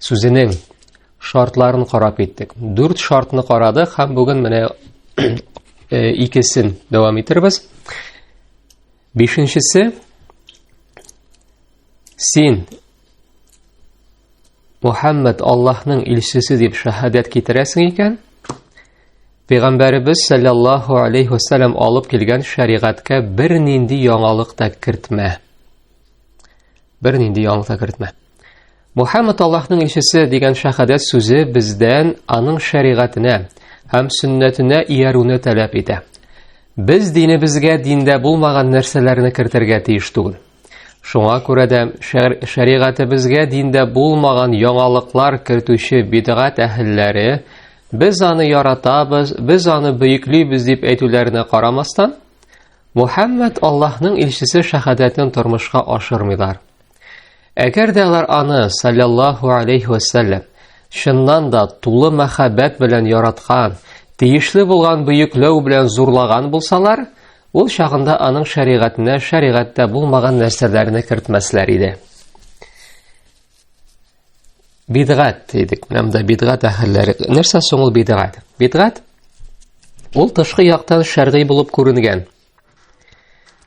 Сүзенең шартларын карап иттек. Дүрт шартны карады һәм бүген менә э, икесен дәвам итербез. Бишенчесе син Мухаммад Аллаһның илчесе дип шаһадәт китерәсең икән, Пәйгамбәребез саллаллаһу алейхи вассалам алып килгән шәригатькә бер нинди яңалык та кертмә. Бер нинди яңалык та кертмә. Мухаммад Аллаһның илчесе дигән шәһадәт сүзе бездән аның шәригатенә һәм сөннәтенә иярүне таләп итә. Без динебезгә диндә булмаган нәрсәләрне кертергә тиеш түгел. Шуңа күрә дә шәригатебезгә диндә булмаган яңалыклар кертүче бидгат әһелләре без аны яратабыз, без аны бөеклибез дип әйтүләренә карамастан, Мухаммад Аллаһның илчесе шәһадәтен тормышка ашырмыйлар. Әгәр дә алар аны, саллаллаху алейхи вәсәлләм, чыннан да тулы мәхәббәт белән яраткан, тиешле булган бөекләү белән зурлаган булсалар, ул чагында аның шәригатенә шәригатьтә булмаган нәрсәләрне кертмәсләр иде. Бидгат дидек, менә монда бидгат әһелләре. Нәрсә соң ул бидгат? Бидгат ул тышкы яктан шәргый булып күренгән,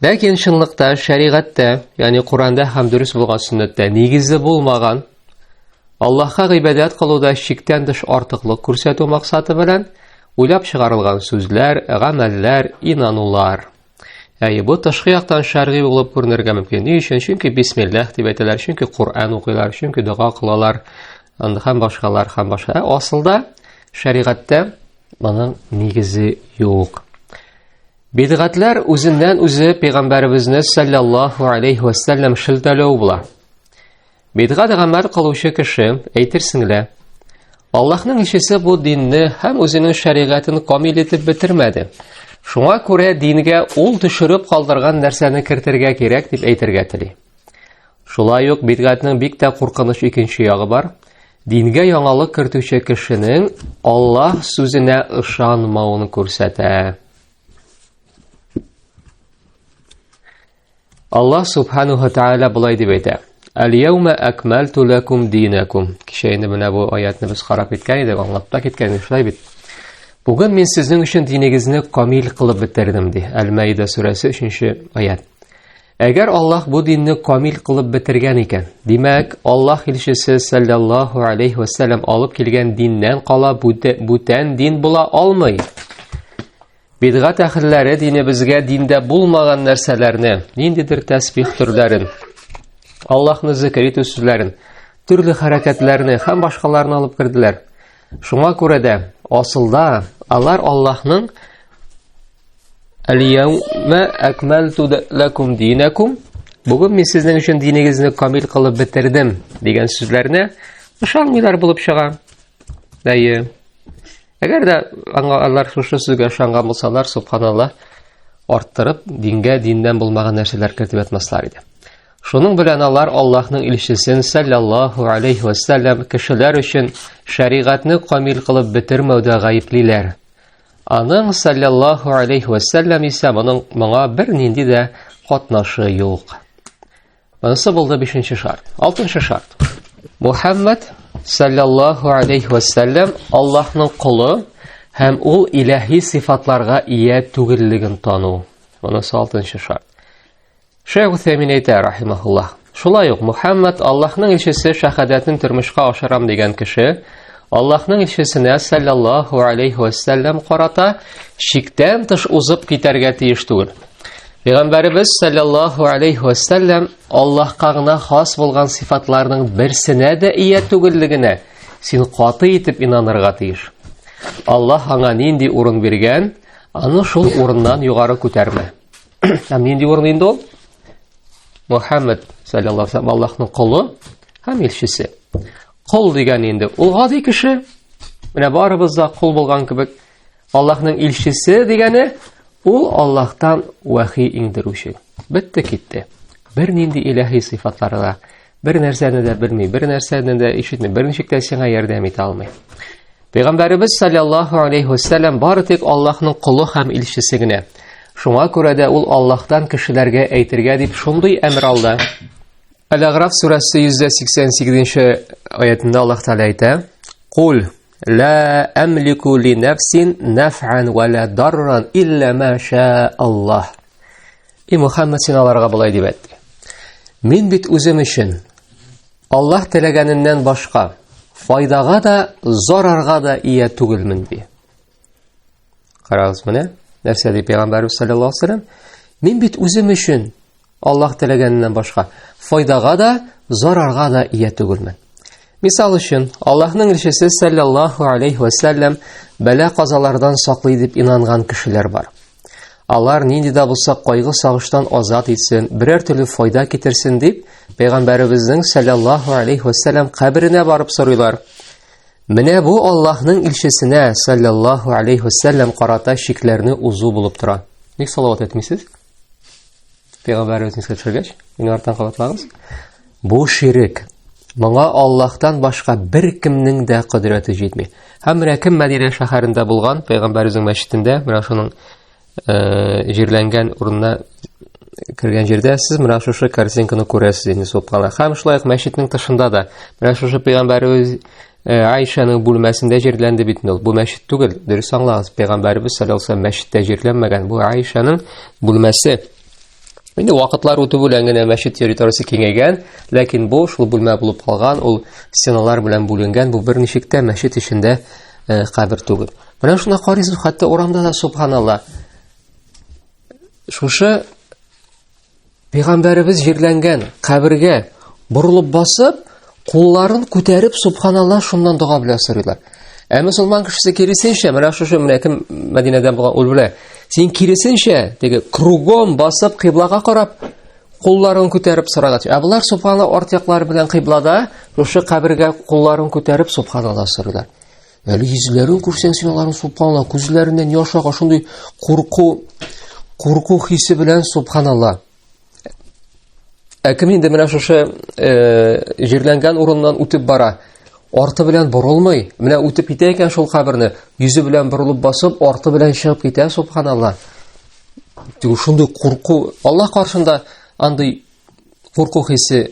Ләкин чынлыкта шәригатьтә, ягъни Коранда һәм дөрес булган сөннәттә нигезе булмаган Аллаһка гыйбадәт кылуда шиктән тыш артыклык күрсәтү максаты белән уйлап чыгарылган сүзләр, гамәлләр, инанулар. Әйе, бу тышкы яктан шәргый булып күренергә мөмкин. Ни өчен? Чөнки бисмиллах дип әйтәләр, чөнки Коръән укыйлар, чөнки дога кылалар, һәм башкалар һәм башка. Ә асылда шәригатьтә моның нигезе юк. Бидгатләр үзеннән-үзе пәйгамбәребезне саллаллаһу алейхи ва саллям шелтәләү була. Бидгат гамәл кылучы кеше әйтерсең лә Аллаһның ишесе бу динне һәм үзенең шәригатен камил итеп бетермәде. Шуңа күрә дингә ул төшереп калдырган нәрсәне кертергә кирәк дип әйтергә тели. Шулай ук бидгатьнең бик тә куркыныч икенче ягы бар. Дингә яңалык кертүче кешенең Аллаһ сүзенә ышанмавын күрсәтә. Аллаһ субханаһу тааля былай дип әйтә: Әл-яума әкмәлту ләкум динәкум. Кичә инде менә бу аятны без карап киткән идек, аңлап та киткән идек, шулай бит. Бүген мин сезнең өчен динегезне камил кылып бетердем, ди. Әл-Мәида сүрәсе 3 нче аят. Әгәр Аллаһ бу динне камил кылып бетергән икән, димәк, Аллаһ илчесе саллаллаһу алейхи ва саллям алып килгән диннән кала бүтән дин була алмый. Бидгат әхерләре динебезгә диндә булмаган нәрсәләрне, ниндидер тәсбих төрләрен, Аллаһны зикр итү сүзләрен, төрле хәрәкәтләрне һәм башкаларны алып керделәр. Шуңа күрә дә, асылда, алар Аллаһның Әлияумә әкмәлту ләкум динәкум Бүген мин сезнең өчен динегезне камил кылып бетердем дигән сүзләрне ышанмыйлар булып чыга. Әйе. Әгәр дә алар шушы сүзгә ышанган булсалар, субханалла, арттырып, дингә диннән булмаган нәрсәләр кертеп ятмаслар иде. Шуның белән алар Аллаһның илчесен саллаллаһу алейхи ва саллям кешеләр өчен шәригатьне камил кылып бетермәүдә гаеплиләр. Аның саллаллаһу алейхи ва саллям исә моның моңа бернинди дә катнашы юк. Монысы булды 5нче шарт. 6нчы шарт. Мухаммад саллаллаһу алейхи ва саллям Аллаһның кулы һәм ул илаһи сифатларга ия түгеллеген тану. Монысы 6нчы шарт. Шәйх Усәймин әйтә, рахимахуллаһ, шулай ук Мухаммад Аллаһның илчесе шәһадәтен тормышка ашырам дигән кеше Аллаһның илчесенә саллаллаһу алейхи вәсәлләм карата шиктән тыш узып китәргә тиеш түгел. Пәйгамбәребез саллаллаһу алейхи вәсәлләм Аллаһка гына хас булган сыйфатларның берсенә дә ия түгеллегенә син каты итеп инанырга тиеш. Аллаһ аңа нинди урын биргән, аны шул урыннан югары күтәрмә. Һәм нинди урын инде ул? Мухаммад саллаллаһу алейһи Аллаһның колы һәм илчесе. Кол дигән инде ул гади кеше. Менә барыбыз да кол булган кебек. Аллаһның илчесе дигәне ул Аллаһтан вахи иңдерүче. Бетте китте. Бер нинди илаһи сыйфатлары да Бер нәрсәне дә белми, бер нәрсәне дә ишетми, бер ничек тә сиңа ярдәм итә алмый. Пәйгамбәребез саллаллаһу алейхи вассалам бары тик Аллаһның колы һәм илчесе генә. Шуңа күрә дә ул Аллаһтан кешеләргә әйтергә дип шундый әмер алды. Әл-Аграф сүрәсе 188-нче аятында Аллаһ Тәгалә әйтә: "Кул ла амлику ли нафсин нафан ва ла дарран илля ма ша Аллаһ". И Мухаммад син аларга болай дип әйтте. Мин бит үзем өчен Аллаһ теләгәненнән башка файдага да, зарарга да ия түгелмен ди. Карагыз менә, нәрсә ди пәйгамбәрбез саллаллаһу алейһи вәсәлләм? Мин бит үзем өчен Аллаһ теләгәненнән башка файдага да, зарарга да ия түгелмен. Мисал өчен, Аллаһның илчесе саллаллаху алейхи ва саллям бәла-казалардан саклый дип инанган кешеләр бар. Алар нинди дә булса кайгы сагыштан азат итсен, берәр төрле файда китерсен дип, пәйгамбәребезнең саллаллаху алейхи ва саллям каберенә барып сорыйлар. Менә бу Аллаһның илчесенә саллаллаху алейхи ва саллям карата шикләрне узу булып тора. Ник салават әйтмисез? Пәйгамбәр үзенә төшергәч, мине арттан кабатлагыз. Бу ширек. Моңа Аллаһтан башка бер кемнең дә кодрәте җитми. Һәм менә кем Мәдинә шәһәрендә булган, Пәйгамбәр үзенең мәчетендә, менә шуның э, җирләнгән урынына кергән җирдә сез менә шушы картинканы күрәсез инде суккана. Һәм шулай ук мәчетнең тышында да менә шушы пәйгамбәребез Э, Айшаның бүлмәсендә җирләнде бит ул. Бу мәчет түгел, дөрес аңлагыз. Пәйгамбәрбез саллаллаһу алейһи мәчеттә җирләнмәгән. Бу Айшаның бүлмәсе. Инде вакытлар үтү белән генә мәчет территориясе киңәйгән, ләкин бу шул бүлмә булып калган, ул стеналар белән бүленгән, бу берничек тә мәчет эчендә э, кабер түгел. Менә шуны карыйсыз, хәтта урамда да субханалла. Шушы Пәйгамбәребез җирләнгән кабергә борылып басып, кулларын күтәреп, субханалла, шуннан дога белән сорыйлар. Ә мусулман кешесе киресенчә, менә шушы менә кем Мәдинәдән булган ул белә. Син киресенчә, теге кругом басып кыйблага карап, кулларын күтәреп сорарга тиеш. Ә болар субханалла арт яклары белән кыйблада, шушы кабергә кулларын күтәреп субханалла сорыйлар. Әле йөзләрен күрсәң син аларның субханалла, күзләреннән яш ага шундый курку, курку хисе белән субханалла. Ә кем инде менә шушы э, җирләнгән урыннан үтеп бара, арты белән борылмый, менә үтеп китә икән шул каберне, йөзе белән борылып басып, арты белән чыгып китә, субханалла. Шундый курку, Аллаһ каршында андый курку хисе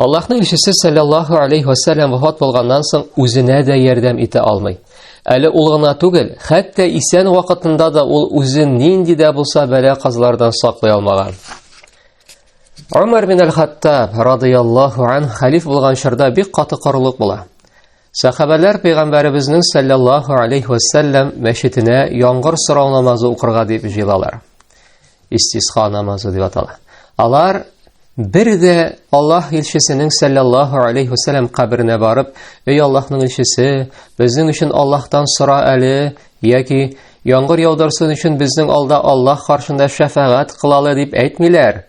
Аллаһның илчесе саллаллаһу алейхи ва саллям вафат булганнан соң үзенә дә ярдәм итә алмый. Әле ул гына түгел, хәтта исән вакытында да ул үзен нинди дә булса бәла казлардан саклый алмаган. Умар бин аль-Хаттаб радияллаһу ан халиф булган чорда бик каты корылык була. Сахабәләр пәйгамбәребезнең саллаллаһу алейхи ва саллям мәчетенә яңгыр сорау намазы укырга дип җыелалар. Истисха намазы дип атала. Алар бер дә Аллаһ илчесенең саллаллаһу алейхи ва саллям каберенә барып, "Эй Аллаһның илчесе, безнең өчен Аллаһтан сора әле" яки "Яңгыр яудырсын өчен безнең алда Аллаһ каршында шәфәгать кылалы" дип әйтмиләр.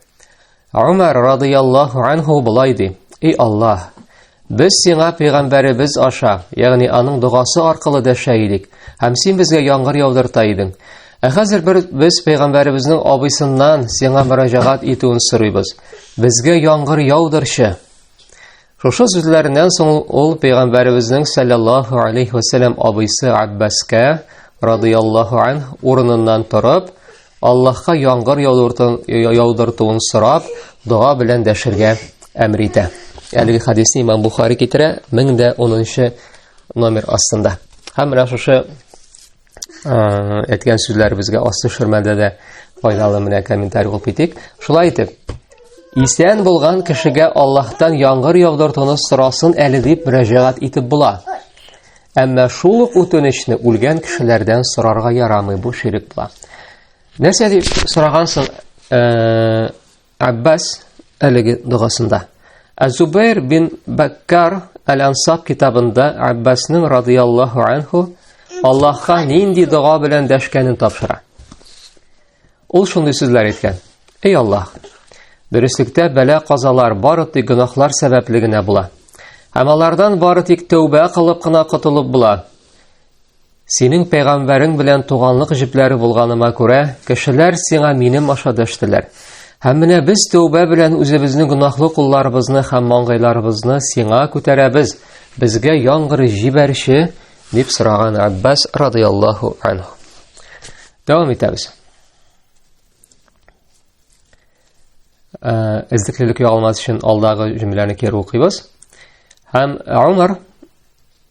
Умар радыяллаху анху болай ди: "И Аллаһ, без сиңа пәйгамбәребез аша, ягъни аның догасы аркылы дәшә идек, һәм син безгә яңгыр яудырта идең. Ә хәзер бер без пәйгамбәребезнең абыйсыннан сиңа мөрәҗәгать итүен сорыйбыз. Безгә яңгыр яудырчы!" Шушы сүзләреннән соң ул пәйгамбәребезнең саллаллаһу алейхи вәсәләм абыйсы Аббаска радыяллаһу ан урыныннан торып, Аллаһка яңгыр яудыртуын сорап, дога белән дәшергә әмер итә. Әлеге хадисне Имам Бухари китерә 1010 номер астында. Һәм менә шушы әйткән сүзләребезгә ас төшермәдә дә файдалы менә комментарий кылып китик. Шулай итеп, исән булган кешегә Аллаһтан яңгыр яудыртуны сорасын әле дип мөрәҗәгать итеп була. Әмма шул ук үтенечне үлгән кешеләрдән сорарга ярамый бу ширек була. Нәрсә дип сорагансың? Э, Аббас әлеге догасында. Азубайр бин Баккар Әл-Ансаб китабында Аббасның радияллаху анху Аллаһка нинди дога белән дәшкәнен тапшыра. Ул шундый сүзләр әйткән. Эй Аллаһ, дөреслектә бәлә казалар бары тик гөнаһлар сәбәпле генә була. Һәм алардан бары тик тәүбә кылып кына котылып була. Синең пәйгамбәрең белән туганлык җепләре булганыма күрә, кешеләр сиңа минем аша дәштеләр. Һәм менә без тәүбә белән үзебезнең гөнаһлы кулларыбызны һәм маңгайларыбызны сиңа күтәрәбез. Безгә яңгыр җибәрче, дип сораган Аббас радияллаһу анху. Дәвам итәбез. Э, эзлеклелек югалмас өчен алдагы җөмләне кире укыйбыз. Һәм Умар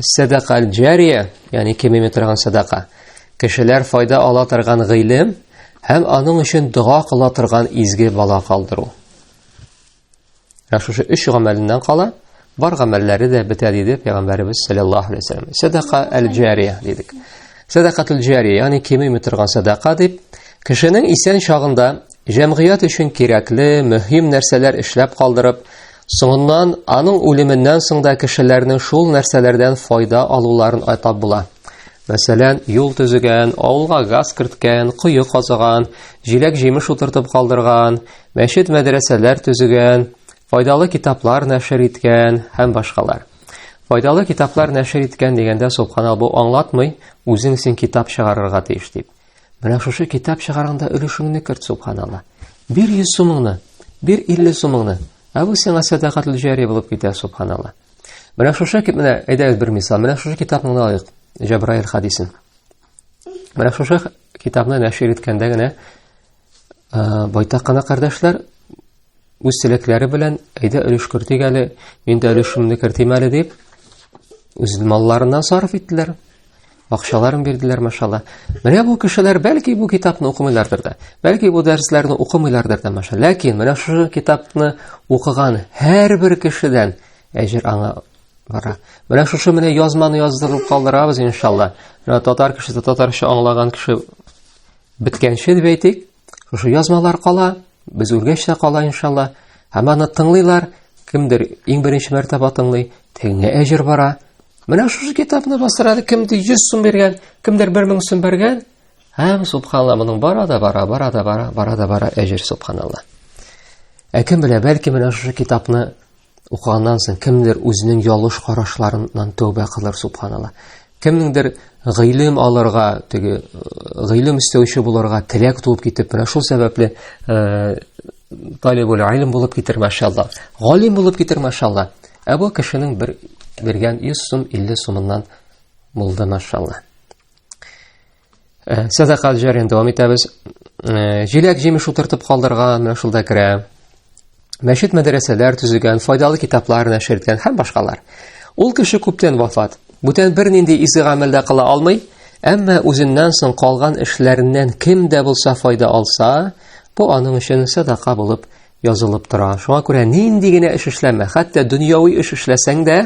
Сәдака аль-җария, ягъни кимеми торган садака. Кешеләр файда ала торган гыйлем һәм аның өчен дога кыла торган изге бала калдыру. Ә шушы өч гамәленнән кала, бар гамәлләре дә бетә диде пәйгамбәребез саллаллаһу алейһи вәсәлләм. Садака аль-җария дидек. Садакатул җария, ягъни кимеми торган садака дип, кешенең исән чагында Җәмгыять өчен кирәкле, мөһим нәрсәләр эшләп калдырып, соңыннан аның үлеменнән соң да кешеләрнең шул нәрсәләрдән файда алуларын атап була. Мәсәлән, юл төзегән, авылга газ керткән, кое казыган, җиләк-җимеш утыртып калдырган, мәчет-мәдрәсәләр төзегән, файдалы китаплар нәшер иткән һәм башкалар. Файдалы китаплар нәшер иткән дигәндә, субхана, бу аңлатмый, үзең син китап чыгарырга тиеш дип. Менә шушы китап чыгарганда өлешеңне керт, субханалла. Бир 100 сумыңны, бир 50 сумыңны. Ә бу сиңа сәдакатул җари булып китә, субханалла. Менә шушы кит менә әйдәгез бер мисал. Менә шушы китапны гына алыйк. Җабраил хадисен. Менә шушы китапны нәшер иткәндә генә Ә, байтак кына кардәшләр үз теләкләре белән әйдә өлеш кертик әле, мин дә өлешемне кертим әле дип, үз малларыннан сарыф иттеләр. Акчаларын бирделәр, машалла. Менә бу кешеләр бәлки бу китапны укымыйлардыр да, бәлки бу дәресләрне укымыйлардыр да, маша. Ләкин менә шушы китапны укыган һәрбер кешедән әҗер аңа бара. Менә шушы менә язманы яздырып калдырабыз, иншалла. Менә татар кешесе татарча аңлаган кеше Беткәнче дип әйтик, шушы язмалар кала, без үлгәч тә кала иншалла. Һәм аны тыңлыйлар, кемдер иң беренче мәртәбә тыңлый, тегеңә әҗер бара. Менә шушы китапны бастырады, кемдер 100 сум биргән, кемдер 1000 сум биргән. Һәм субханалла, моның бара да бара, бара да бара, бара да бара әҗер субханалла. Ә кем белә, бәлки менә шушы китапны укыганнан соң кемдер үзенең ялыш карашларыннан тәүбә кылыр субханалла кемнеңдер гыйлем алырга теге э, гыйлем эстәүче булырга теләк туып китеп менә шул сәбәпле э, талибул илм булып китер машалла галим булып китер машалла ә бу кешенең бер биргән 100 сум 50 сумыннан булды машалла Э, сәдака җәрен дәвам итәбез. Э, җиләк җимеш утыртып калдырган, менә шунда керә. Мәчет мәдрәсәләр төзегән, файдалы китаплар нәшер иткән һәм башкалар. Ул кеше күптән вафат. Бүтән бернинди изге гамәл дә кыла алмый, әмма үзеннән соң калган эшләреннән кем дә булса файда алса, бу аның өчен сәдака булып язылып тора. Шуңа күрә нинди генә эш эшләмә, хәтта дөньяви эш эшләсәң дә,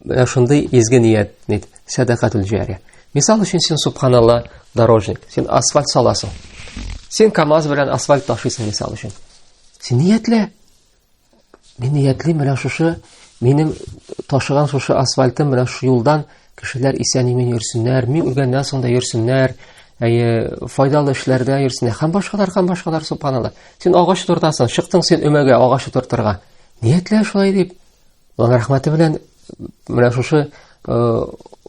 менә шундый изге ният, нит, сәдакатул җария. Мисал өчен син субханалла дорожник, син асфальт саласың. Син КАМАЗ белән асфальт ташыйсың мисал өчен. Син ниятлә. Мин ниятлим менә шушы минем ташыган шушы асфальтым менә шушы юлдан Кешеләр исән-имин йөрсеннәр, мин үлгәннән соң да йөрсеннәр, әйе, файдалы эшләрдә йөрсеннәр. Һәм башкалар, һәм башкалар, субханалла. Син агач тортасың, чыктың син өмәгә агач тортырга. Ниятлә шулай дип. Аллаһ рәхмәте белән менә шушы э,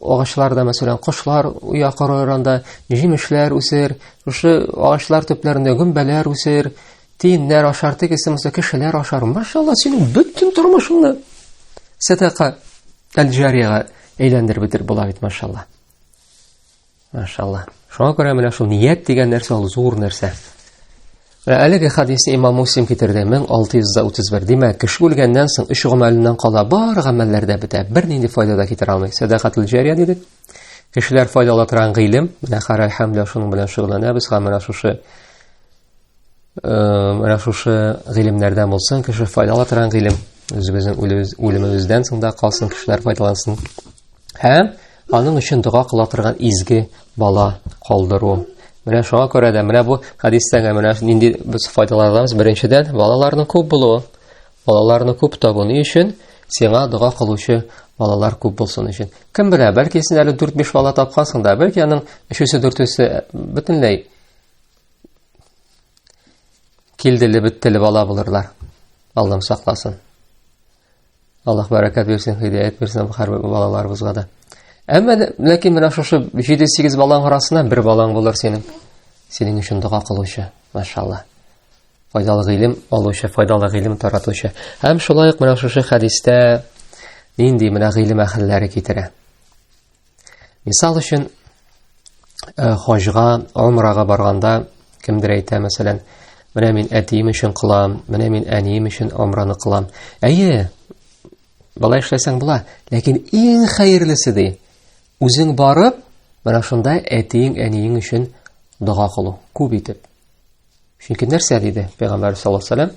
агачларда, мәсәлән, кошлар уя корырында җимешләр үсер, шушы агачлар төпләрендә гөмбәләр үсер, Тиеннәр ашар, тегесе булса кешеләр ашар. Машалла, синең бөтен тормышыңны сәдака әл-җарияга әйләндереп бетереп була бит, машалла. Машалла. Шуңа күрә менә шул ният дигән нәрсә ул зур нәрсә. Вә әлеге хадисне имам Муслим китерде 1631. Димәк, кеше үлгәннән соң өч гамәленнән кала бар гамәлләр дә бетә. Бернинди файда да китерә алмый. Сәдакатул җария дидек. Кешеләр файдалана торган гыйлем, менә Харай Хәмдә шуның белән шөгыльләнәбез, һәм менә шушы менә шушы гыйлемнәрдән булсын кеше файдала торган гыйлем үзебезнең үлемебездән соң да калсын кешеләр файдалансын һәм аның өчен дога кыла торган изге бала калдыру менә шуңа күрә дә менә бу хәдистән менә нинди без файдалар алабыз беренчедән балаларның күп булуы балаларны күп табу ни өчен сиңа дога кылучы балалар күп булсын өчен кем белә бәлки син әле дүрт биш бала тапкансың да бәлки аның өчесе дүртесе бөтенләй килдели беттели бала булырлар аллам сакласын аллах бәрәкәт бирсен һидәят бирсен һәрбер балаларыбызга да әмма ләкин менә шушы җиде сигез балаң арасыннан бер балаң булыр синең синең өчен дога кылучы машалла файдалы гыйлем алучы файдалы гыйлем таратучы һәм шулай ук менә шушы хәдистә нинди менә гыйлем әһелләре китерә Мисал өчен, э, хаҗга, умрага барганда кемдер әйтә, мәсәлән, менә мин әтием өчен кылам, менә мин әнием өчен умраны кылам. Әйе, былай эшләсәң була, ләкин иң хәерлесе ди, үзең барып, менә шунда әтиең, әниең өчен дога кылу, күп итеп. Чөнки нәрсә диде Пәйгамбәр саллаллаһу алейһи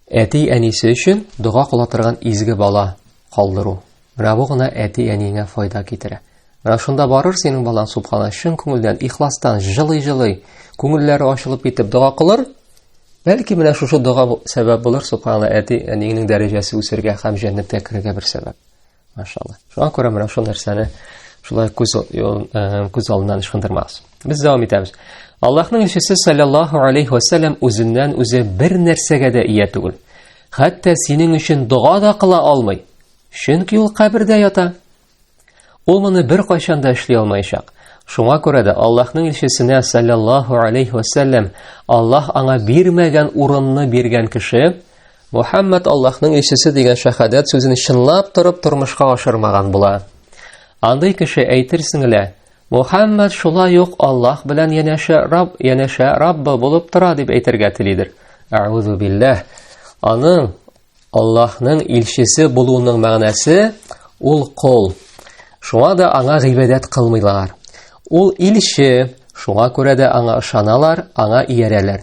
Әти-әнисе өчен дога кыла торган изге бала калдыру. Менә бу гына әти-әниеңә файда китерә. Менә шунда барыр синең балаң субхана чын күңелдән, ихластан, җылый-җылый, күңелләре ачылып китеп дога кылыр. Бәлки менә шушы дога сәбәп булыр субхана әти-әниеңнең дәрәҗәсе үсергә һәм җәннәткә керергә бер сәбәп. Машалла. Шуңа күрә менә шул нәрсәне шулай күз э, күз алдыннан ычкындырмагыз. Без дәвам итәбез. Аллаһның илчесе саллаллаһу алейхи ва саллям үзеннән үзе бер нәрсәгә дә ия түгел. Хәтта синең өчен дога да кыла алмый. Чөнки ул кабердә ята. Ул моны бер кайчан да эшли алмаячак. Шуңа күрә дә Аллаһның илчесенә саллаллаһу алейхи ва саллям Аллаһ аңа бирмәгән урынны биргән кеше Мухаммад Аллаһның илчесе дигән шәһадәт сүзен чынлап торып тормышка ашырмаган була. Андый кеше әйтерсең лә, Мухаммад шулай ук Аллаһ белән янәшә Раб, янәшә Раббы булып тора дип әйтергә телидер. Әгъузу билләһ. Аның Аллаһның илчесе булуының мәгънәсе ул кол. Шуңа да аңа гыйбадәт кылмыйлар. Ул илче, шуңа күрә дә аңа ышаналар, аңа иярәләр.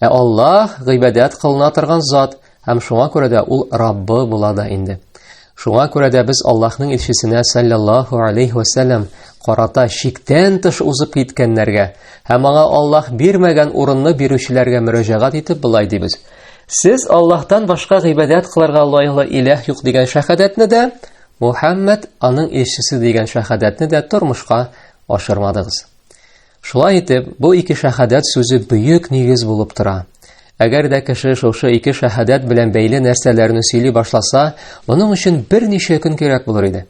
Ә Аллаһ гыйбадәт кылына торган зат, һәм шуңа күрә дә ул Раббы була да инде. Шуңа күрә дә без Аллаһның илчесенә саллаллаһу алейхи ва саллям карата шиктән тыш узып киткәннәргә һәм аңа Аллаһ бирмәгән урынны бирүчеләргә мөрәҗәгать итеп былай дибез. Сез Аллаһтан башка гыйбадәт кылырга лаеклы иләһ юк дигән шәһадәтне дә, Мухаммад аның илчесе дигән шәһадәтне дә тормышка ашырмадыгыз. Шулай итеп, бу ике шәһадәт сүзе бөек нигез булып тора. Әгәр дә кеше шушы ике шәһадәт белән бәйле нәрсәләрне сөйли башласа, моның өчен берничә көн кирәк булыр иде.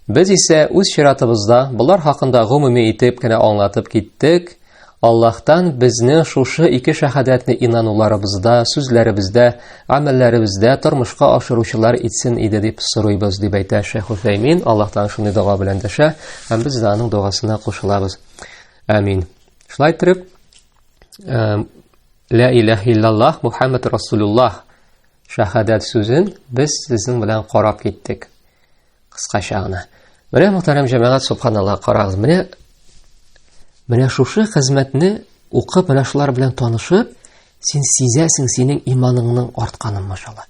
Без исә үз чиратыбызда болар хакында гомуми итеп кенә аңлатып киттек. Аллаһтан безне шушы ике шәһадәтне инануларыбызда, сүзләребездә, амәлләребездә тормышка ашыручылар итсен иде дип сорыйбыз, дип әйтә Шәйх Аллаһтан шундый дога белән дәшә, һәм без дә аның догасына кушылабыз. Амин. Шулай итеп, Ла иләһ иллаллах Мухаммад Расулуллах шахадат сүзен без сезнең белән карап киттек. Кыскача гына. Менә мөхтәрәм җәмәгать, субханаллаһ, карагыз, менә менә шушы хезмәтне укып, менә шулар белән танышып, син сизәсең синең иманыңның артканын, машалла.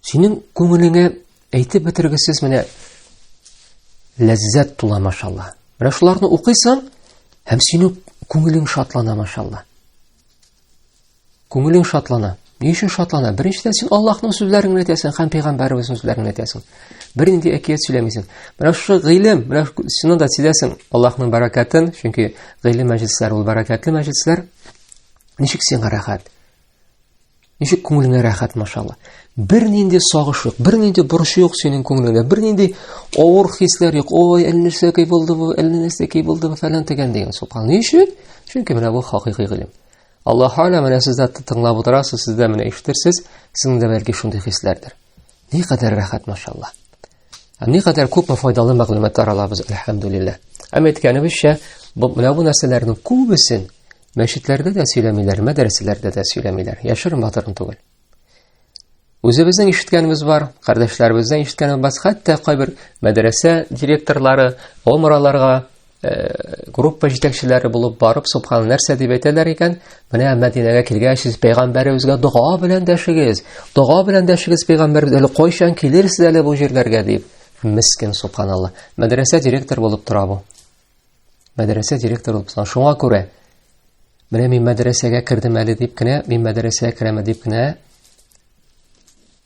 Синең күңелеңә Әйтеп бетергесез менә ләззәт тула машалла. Менә шуларны укыйсың һәм синең күңелең шатлана машалла. Күңелең шатлана. Ни өчен шатлана? Беренчедән син Аллаһның сүзләрен генә әйтәсең һәм пәйгамбәребезнең сүзләрен генә әйтәсең. Бернинди әкият сөйләмисең. Менә шушы гыйлем, менә шуны да сизәсең Аллаһның бәрәкәтен, чөнки гыйлем мәҗлесләре ул бәрәкәтле мәҗлесләр. Ничек сиңа рәхәт? Ничек күңелеңә рәхәт, машалла. Бернинди сагыш юк, бернинди борчу юк синең күңелеңдә, бернинди авыр хисләр юк. Ой, әллә нәрсә кей булды бу, әллә нәрсә кей булды бу, фәлән дигән дигән. Субхан. Ни өчен? Чөнки менә бу хакыйкый гыйлем. Аллаһ Тәгалә менә сездә тыңлап утырасыз, сездә менә ишетерсез, сезнең дә бәлки шундый хисләрдер. Ни кадәр рәхәт, машалла. Ни кадәр күпме файдалы мәгълүматлар алабыз, әлхәмдүлилләһ. Әм әйткәнебезчә, бу менә бу нәрсәләрнең күбесен мәчетләрдә дә сөйләмиләр, мәдрәсәләрдә дә сөйләмиләр. Яшерен батырын түгел. Үзебезнең ишеткәнебез бар, кардәшләребезнең ишеткәнебез бар, хәтта кайбер мәдрәсә директорлары, омраларга группа җитәкчеләре булып барып, субхан нәрсә дип әйтәләр икән? Менә Мәдинәгә килгәч, сез пәйгамбәребезгә дога белән дәшегез. Дога белән дәшегез пәйгамбәребез, әле кайчан килерсез әле бу җирләргә дип. Мискин субханалла. Мәдрәсә директор булып тора бу. Мәдрәсә директор булып тора. Шуңа күрә менә мин мәдрәсәгә кердем әле дип кенә, мин мәдрәсәгә керәме дип кенә